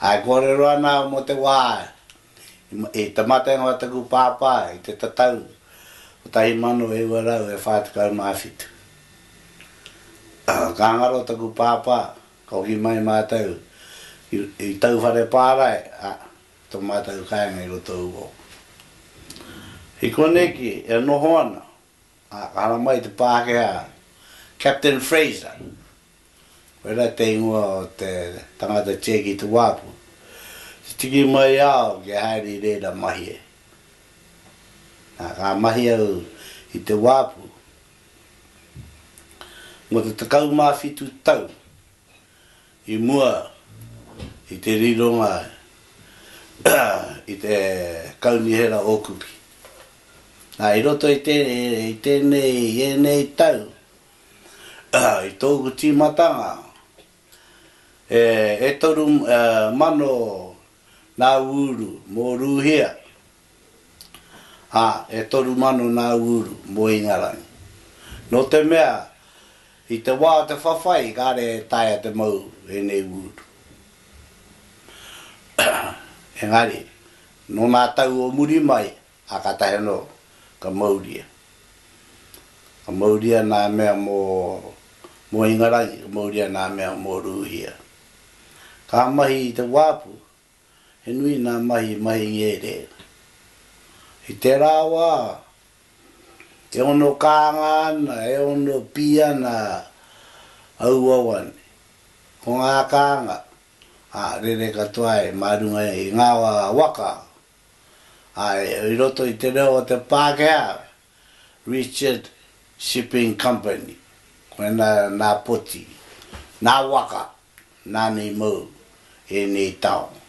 Ā, e kōrero ana au mō te wā i te matenga o taku pāpā i te tatau 1947. Ā, ka ngaro taku pāpā, ka hoki mai mātou i Tauwhare Pārae, ā, tō mātou kāinga i roto u ou. I konei ki, e noho ana, ā, ka haramai te Pākehā Captain Fraser, Koirā te ingoa o te tangata tia ki te wāpu. Te tiki mai au kia haere i reira mahi e. Nā, ka mahi au i te wāpu mō te tekau mā whitu tau i mua i te rironga i te Kaunihera o Kuki. Nā, i roto i tēnei, i ēnei tau, I tōku tīmatanga, e toru mano nā ūru mō Rūhia, ā, e toru mano nā ūru mō Ingarangi. Nō te mea, i te wā o te whawhai, kāre e taea te mau ēnei ūru. Engari, nō nā tau o muri mai, Ā, kātahi anō, ka mauria. Ka mauria nā mea mō, mō Ingarangi, ka mauria nā mea mō Rūhia. Ka mahi i te wāpu, he nui nā mahi i mahi i ērē. I tērā wā, e ono kānga ana, e ono pī ana aua wā nei. Ko ngā kānga, ā, rere katoa ai mā runga i ngā waka Āe, i roto i te reo o te Pākehā, Richard Shipping Company, koinā nā poti, nā waka, nāna i mau i ēnei taonga.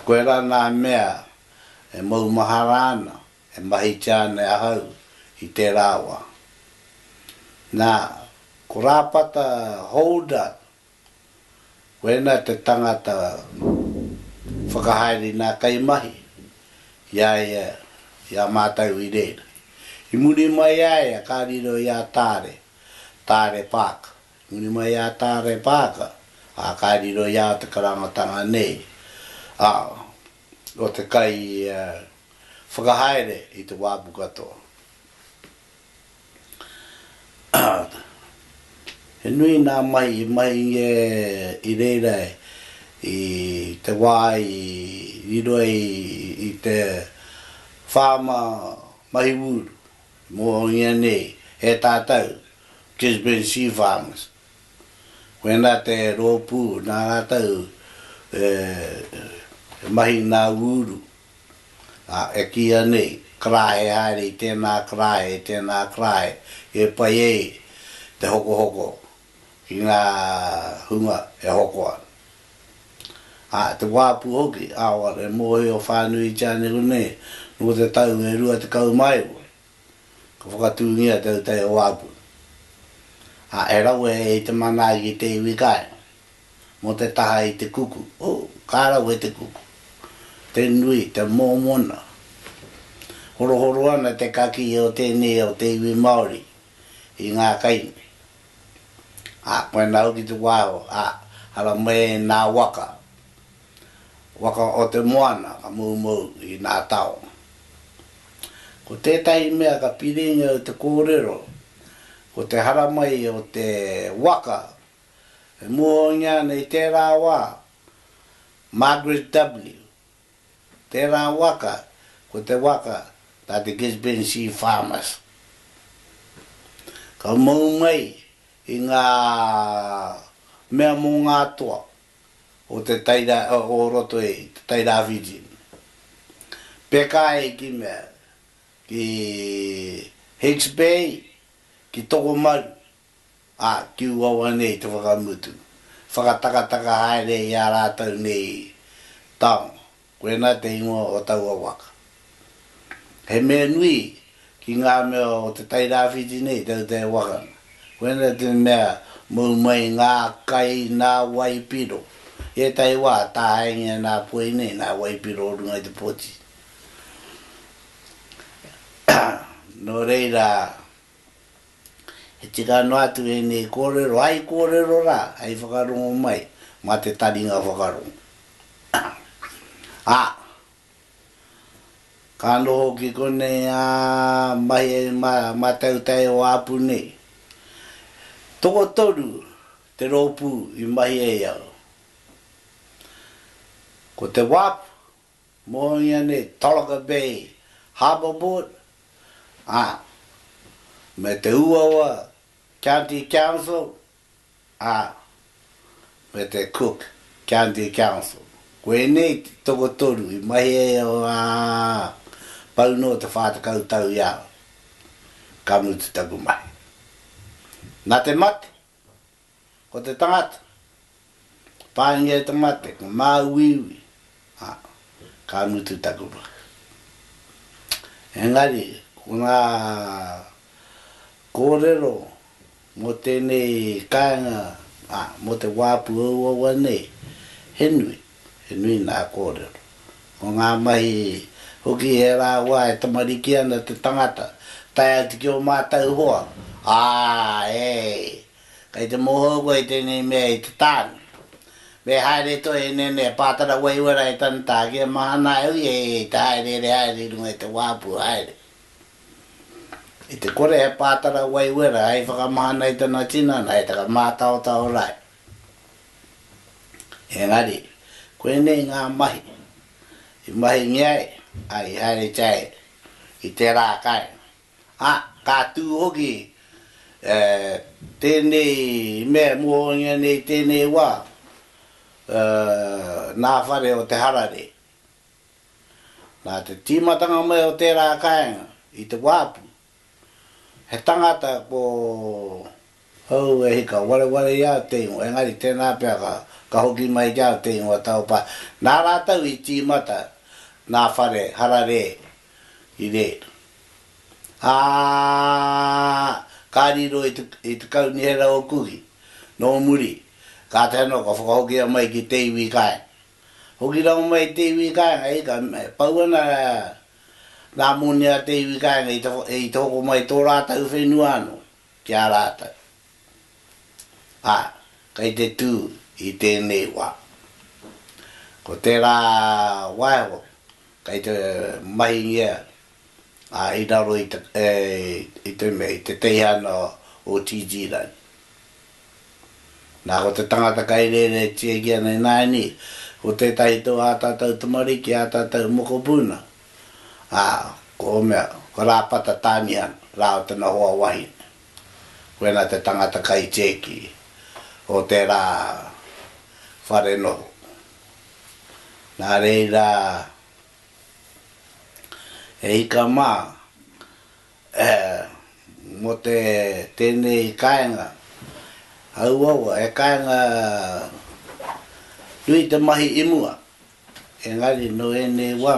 Koirā nā mea e maumahara ana, e mahitia ana e ahau i tērā wā. Nā, ko Rāpata Holder Koinā te tangata whakahaere nā kaimahi i a ia, i a mātou i reira. I muri mai i a ia ka riro i a Taare, Taare Paaka. I muri mai i a Taare Paaka, ā, ka riro i a te karangatanga nei, ā, ko te kai whakahaere i te wāpu katoa. He nui nā mai i mai ia i reira i te wā i riro ai i te whāma mahi wūru mō ianei e tātou Gisborne Sea Farmers. Koinā te rōpū nā rātou e mahi nā wūru. Ā, e kīia nei, Karahe haere i tēnā karahe, i tēnā karahe, e pai ai te hokohoko ki ngā hunga e hoko ana. Ā, te wā pū hoki, aroha, e mōhio whānuitia neu nei, nō te tau e rua tekau mā iwa, ka whakatūngia te autaia wā pū. Ā, he rawe hei te manaaki te iwi kāinga. mō te taha i te kuku, o, ka rawe te kuku, te nui, te mōmona. Horohoro ana te kakī o tēnei o te iwi Māori i ngā kai nei. Ā, koe nā hoki te wāhau, ā, haramai ai nā waka, waka o te moana ka moumou i nā taonga. Ko tētahi mea ka piringia i te kōrero, ko te haramai o te waka, E muhoungia ana i tērā wā, Margaret W. Tērā waka, ko te waka tā te Gisborne C. Farmers. Ka mau mai i ngā mea mō ngā toa o te Taira, o roto i te Tairāwhiti. Peka ai ki mea, ki Hicks Bay, ki Tokomaru, Ā, tū wawa nei te whakamutu, whakatakataka haere i ā rātou nei taonga, koinā te ingoa o taua waka. He mea nui ki ngā mea o te Tairāwhiti nei tau te wakana, koinā te mea mau mai ngā kai nā waipiro, i ētahi wā tāhaengia nā Poi nei nā waipiro o runga i te poti. Nō reira. He tika noa atu ēnei kōrero, ai kōrero rā, hei whakarongo mai mā te taringa whakarongo. Ā, ka noho ki konei ngā mahi mātautai o Āpu nei. Tokotoru te rōpū i mahi ai au. Ko te wap. Mō ianei Tolaga Bay Harbour Board, ā, me te Uawa County Council, ā, me te Cook County Council. Koinei te tokotoru i mahi ai o ngā pau nō te whā tekau tau i a au, ka mutu taku mahi. Nā te mate. Ko te tangata, paingia i te mate, ko māuiui, ā, ka mutu taku mahi. Engari, ko ngā kōrero mō tēnei kāinga, ā, mō te wā pūauaua nei, he nui. He nui ngā kōrero. Ko ngā mahi hoki he rāua e tamariki ana te tangata, tae atu ki ō mātou hoa, ā, e, kei te mōhou koe i tēnei mea i te tāne. Me haere toi e nēnei a Pātara Waiwera e tana tāke, e mahana ai hoki e ia i te hāereere haere i runga i te wāpu haere. I te kore a Pātara Waiwera hei whakamahana i tana tinana, hei taka mātaotao rae. Engari, ko ēnei ngā mahi i mahingia ai a Iharitia e i tērā kāinga, ā, ka tū hoki tēnei mea e mōhiongia nei i tēnei wā nā whare o te hararei. Nā te tīmatanga mai o tērā kāinga i te wāpu, He tangata ko hou e hika wareware i a te ingoa, engari tēnā pea ka hoki mai ki a te ingoa Taupā. Nā rātou i tīmata nā Whare Hararē i rē, ā, ka riro i te Kaunihera o Kuki. Nō muri, kātahi anō ka whakahokia mai ki te iwi kai. Hoki rau mai i te iwi kāinga ika, e pau ana ngā moni a te iwi kāinga i te hoko mai i tō rātau whenua anō ki a rātau. Ā, kei te tū i tēnei wā, ko tērā waeho kei te mahingia ā, i raro i te, i te mea, i te teihana o Tītīrangi. Nā, ko te tangata kai rēretia ki ana ināianei, ko tētahi tō ā tātou tamariki, ā tātou mokopuna, ā, ko ō mea, ko Rāpata Tāmihana rāua tana hoa wahine. Koinā te tangata kai tēki o tērā whare noho. Nā reira, He ika mā, ā, mō te, tēnei kāinga, auaua, he kāinga nui te mahi i mua, engari nō ēnei wā,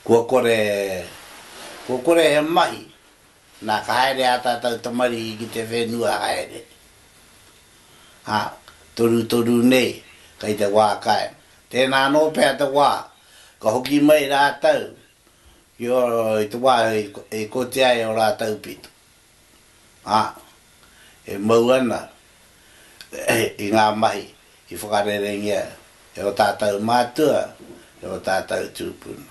kua kore, kua kore he mahi Na, ka haere a tatou tamariki ki te whenua haere, a, torutoru nei, kei te wa kai. Tena ano pea te wa, ka hoki mai ratou ki o, i te wa i koti ai o ratou pito. A, e mau ana i nga mahi i whakarerengia e o tatou matua, e o tatou tupuna.